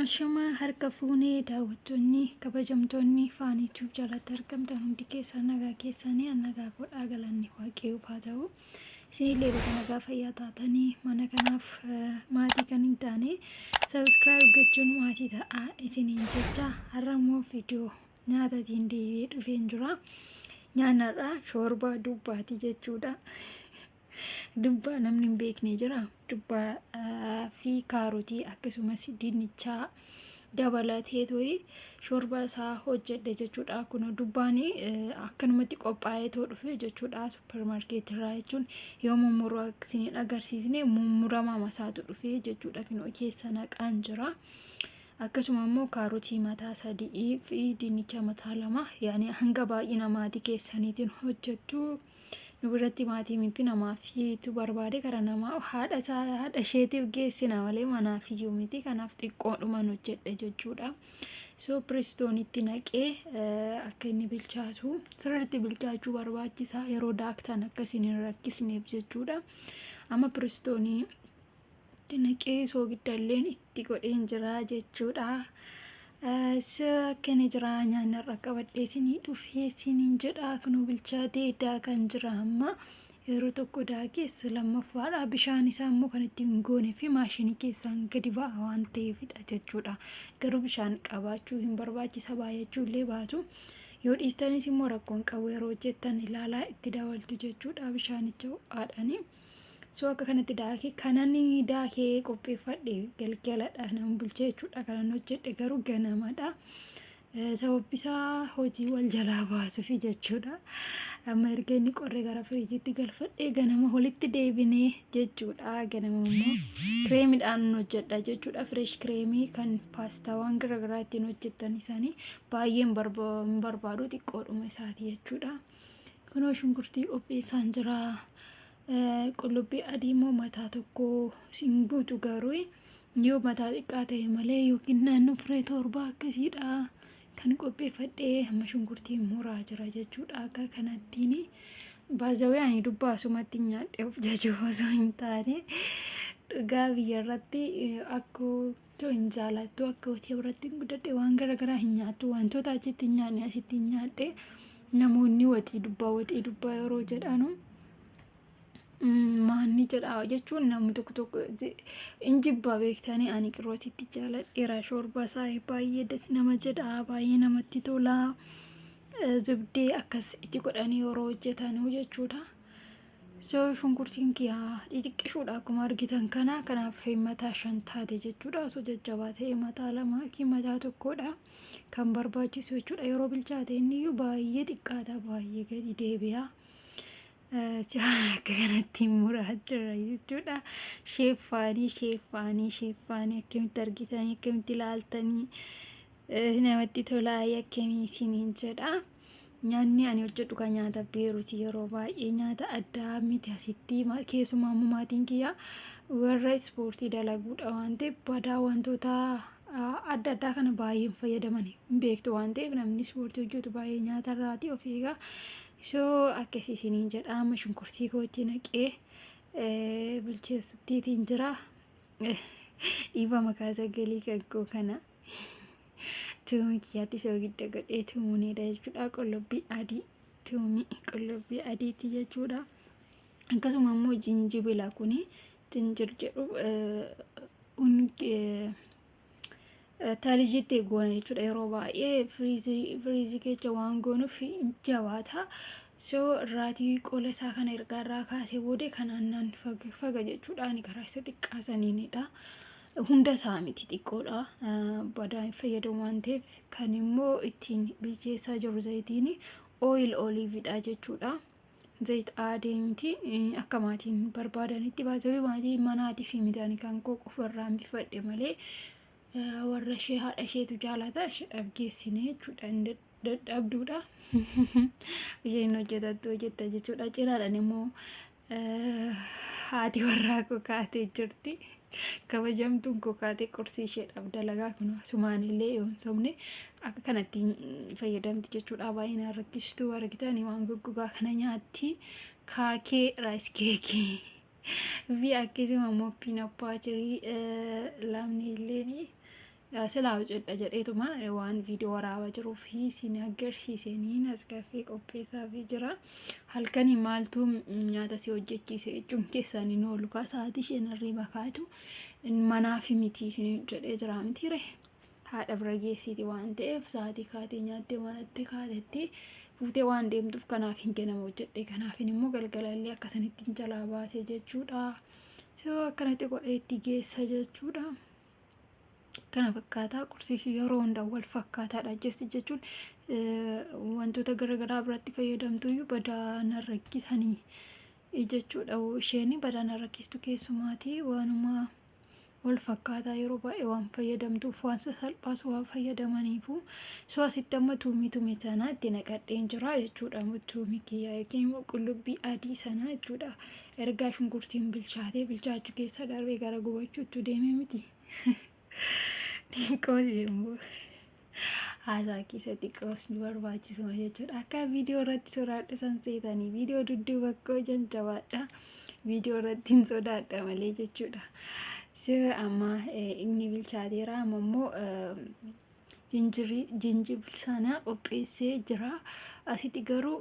Ashama harka fuune daawwattoonni kabajamtoonni faanii tube jalatti argamtan hundi keessan nagaa keessanii an nagaa godhaa galanni waaqayyoof haa ta'u isinillee baga nagaa fayyaa taatanii mana kanaaf eh, maatii kan hin taane sabiskiraayib gochuun maatii ta'aa isiniin jecha har'a immoo viidiyoo nyaatatiin deebi'ee dhufeen jira nyaanarraa shoorbaa dubbaatii jechuudha Dubbaa namni hin beekne jira. Dubbaa fi kaarotii akkasumas dinnichaa dabalatee to'ee shoorbaa isaa hojjedhe jechuudha. Kun dubbaan akkanumatti qophaa'ee too dhufe jechuudha suppermaarkeetii irraa jechuun yoo mummuruu isin hin agarsiisne mummuramaa masaatu dhufe jechuudha kinoo keessa naqaan jira. Akkasuma immoo kaarotii mataa sadii fi dinnicha mataa lama yaani hanga baay'ina maatii keessaniitiin hojjettu. Nu biratti maatii miti namaafiitu barbaade gara nama haadha isaa haadha isheetiif geessina malee manaafiyyuu miti kanaaf xiqqoodhuman hojjedhe jechuudha. So piristoonitti naqee akka inni bilchaatu sirriitti bilchaachuu barbaachisa yeroo daaktan akka isin hin rakkisneef jechuudha. Amma piristoonii Dinaqii soogiddalleen itti godheen jira jechuudha. Akkana jira nyaanni irra qabadhee isinii dhufee isiniin jedha kunuu bilchaatee daakaan jira amma yeroo tokko daakees lammaffaadha bishaan isaa immoo kan ittiin hin goone fi maashinii keessaan gadi ba'a waan ta'eefidha jechuudha. Garuu bishaan qabaachuu hin barbaachisa baay'achuu illee baatu. Yoo dhiistanis immoo rakkoon qabu yeroo hojjettan ilaalaa itti dabaltu jechuudha bishaanicha ho'aadhaanii. So akka kanatti daake kanan daakee qopheeffadhe galgaladha nan bulche jechuudha kanan hojjedhe garuu ganamadha. Sababbisaa hojii wal jalaa baasufi jechuudha. Amma erga inni qorre gara firiijiitti galfadhe ganama walitti deebine jechuudha. Ganama immoo kireemidhaan hojjedha jechuudha. Fireesh kireemii kan paastaawwan garaagaraa ittiin hojjettan isaanii baay'een barbaadu xiqqoodhuma isaati jechuudha. Kunoo shunkurtii qopheessaan jira. Qullubbii adii immoo mataa tokko siin guutu garuu yoo mataa xiqqaa ta'e malee yookiin naannoo firee torbaa akkasiidha kan qopheeffadhee amma shunkurtii muraa jira jechuudha akka kanattiin baazawee ani dubbaa sumatti nyaadhee of jajuu osoo hin taane dhugaa biyyarratti akkoo Too hin jaalattu akka hojii birattiin guddadhe waan gara garaa hin nyaattu wantoota achitti hin nyaanne asitti hin nyaadhe namoonni waxii dubbaa waxii dubbaa yeroo jedhanu maanni jedha jechuun namni tokko tokko hin jibbaa beektanii ani qiroo asitti jaaladheera shoorbaa isaa baay'ee das nama jedha baay'ee namatti tola zubdee akkas itti godhanii yeroo hojjetanuu jechuudha. So shunkurtiin kiyaa xixiqqishuudha akkuma argitan kana kanaaf mataa shan taate jechuudha osoo jajjabaa ta'e mataa lama yookiin mataa tokkoodha kan barbaachisu jechuudha yeroo bilchaate inni iyyuu baay'ee xiqqaata baay'ee gadi deebi'a akka kanatti muraa jira jechuudha sheeffaanii sheeffaanii sheeffaanii akkamitti argitanii akkamitti ilaaltanii namatti tolaa yakkamii isiniin jedha. Nyaanni ani hojjedhu kan nyaata Beeruti yeroo baay'ee nyaata addaa miti asitti keessumaa immoo maatiin kiyya warra ispoortii dalaguudha waan ta'eef badaa wantoota adda addaa kana baay'een fayyadaman hin beektu waan ta'eef namni ispoortii hojjetu baay'ee nyaata irraati of eegaa soo akkasii isiniin jedha amma shunkurtii kootti naqee bilcheessuttiitiin jira dhiifama kaasaa galii kan koo kana. Tuumii kiyyaatti soogidda godhee tuumuu ni dha jechuudha. Qullubbii adii tuumii qullubbii adiitti jechuudha. Akkasuma immoo jinjibila kuni jinjir jedhu taalijitti goona jechuudha. Yeroo baay'ee firiizii keessa waan goonuuf jabaata. So irraatii qola isaa kana ergaa irraa kaasee booda kanaan naan faga jechuudha. Ani karaa isa xiqqaa saniinidha. Hunda isaa miti xiqqoodha. Badaa hin fayyadamu waan ta'eef kan immoo ittiin bilcheessaa jirru zayitiin oil olive dha jechuudha. Zayit aadee miti akka maatiin barbaadanitti baatee maatii manaatii fi midhaan kan koo qofarraan bifadhe malee warra ishee haadha isheetu jaalata isheedhaaf geessine jechuudha. dadhabduudha isheen hin hojjetattu hojjetta jechuudha cinaadhaan immoo haati warraa koo kaatee jirti kabajamtuun koo kaatee qursii isheedhaaf dalagaa kun sumaan illee yoon sobne akka kanatti fayyadamti jechuudha baay'inaan rakkistuu argitanii waan goggogaa kana nyaatti kaakee raayis keekii fi akkasuma mooppiin abbaa jirii laamni illee Silaa hojjedha jedheetuma waan viidiyoo waraabaa jiruuf siin agarsiiseen as gaffee qopheessaafii jira. Halkanii maaltu nyaata si hojjechiise jechuun keessaan hin oolu kaa sa'aatii isheen hirriiba kaatu manaafi miti isin jedhee jira mitiire. Haadha bira geessiiti waan ta'eef sa'aatii kaatee nyaattee manattee kaatetti fuutee waan deemtuuf kanaaf hin kennamu hojjedhe kanaafin immoo galgalallee akkasanitti jalaa baase jechuudha. So akkanatti godhee itti geessa jechuudha. kana fakkaataa qursii fi yeroo hunda wal fakkaataadha jechi jechuun wantoota garaagaraa biratti fayyadamtuyyuu badaa na rakkisanii jechuudha isheen badaa na rakkistu keessumaatii waanuma wal fakkaataa yeroo baay'ee waan fayyadamtuuf waan sasalphaas waan fayyadamaniifu soo asitti amma tuumii tume sanaa itti naqadheen jira jechuudha tuumii kiyyaa yookiin immoo qullubbii adii sanaa jechuudha Ergaa shunkurtiin bilchaatee bilchaachuu keessa darbee gara gubachuuttu deeme miti. Xiqqoos immoo haasaa keessa xiqqoos nu barbaachisuma jechuudha. Akka viidiyoo irratti soraadhu san seetanii viidiyoo dudduuba koo jan jabaadha. Viidiyoo irratti hin sodaadha malee jechuudha. Sira amma inni bilchaateera amma immoo Jinjirii, Jinjibili, sana qopheessee jira. Asiti garuu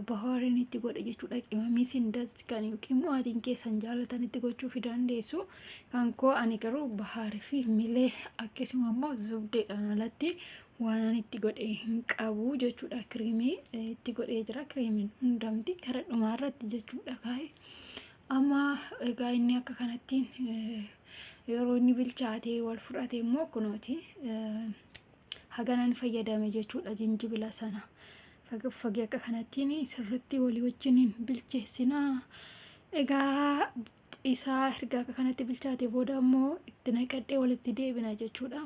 bahaarin itti godhe jechuudha. Qimamii sin das kan yookiin immoo atiin keessan jaalatan itti gochuu fi dandeessu. Kan koo ani garuu bahaarii fi milee akkasuma immoo zubdeedhaan alatti waanan itti godhe hin qabu jechuudha. Kiriimii itti godhee jira. Kiriimiin hundamti gara dhumaa irratti jechuudha kaa'e. Amma egaa inni akka kanattiin yeroo inni bilchaatee wal fudhate immoo kunooti haganan fayyadame jechuudha jinjibila sana fagee akka kanattiin sirritti walii wajjiniin bilcheessinaa egaa isaa erga akka kanatti bilchaate booda immoo itti naqadhee walitti deebina jechuudha.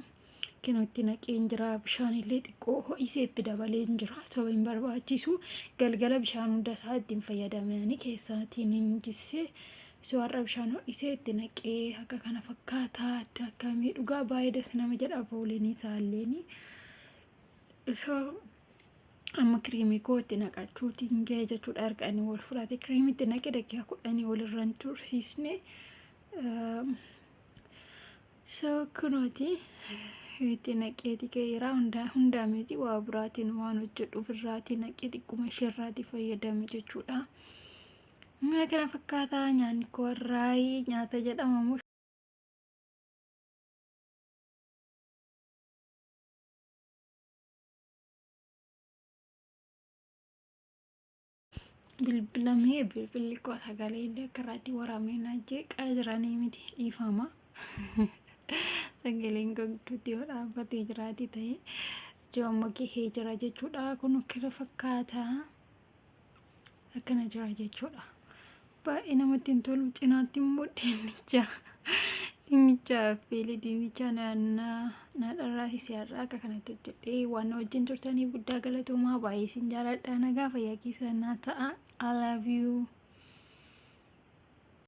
Kinoo itti naqeen jira. Bishaanillee xiqqoo ho'isee itti dabaleen jira. Sababa hin barbaachisu. Galgala bishaan hunda isaa itti hin fayyadamani keessaatiin hin jisse. So har'a bishaan ho'isee itti naqee akka kana fakkaata. Adda akkamii dhugaa baay'ee das nama jedha fooliin isaalleen. So amma kiriimii koo itti naqachuutiin ga'e jechuudha erga inni wal fudhate kiriimii itti naqe daqiiqaa kudhanii walirra hin tursiisne. So kunooti itti naqeeti kee iraa hundaa hundaa miti waa biraatiin waan hojjedhu ofirraati naqee xiqquma isheerraati fayyadame jechuudha. Mana kana fakkaataa nyaanni koo har'aayii nyaata jedhama moo bilbilamee bilbilli koo sagalee illee akka irratti waraabne na jeeqaa jiranii miti dhiifama sagaleen koo gidduutti yoo dhaabbatee jiraate ta'e joomma gahee jira jechuudha kun akkana fakkaata akkana jira jechuudha Baay'ee namatti hin tolu. Cinaatti immoo dinnicha dinnicha affeelee dinnicha naadharraa hisiyaarraa akka kanatti hojjedhee waan na wajjin turtaniif guddaa galatoomaa baay'ee isin jaaladha nagaa fayyaa keessan naa ta'a I love you.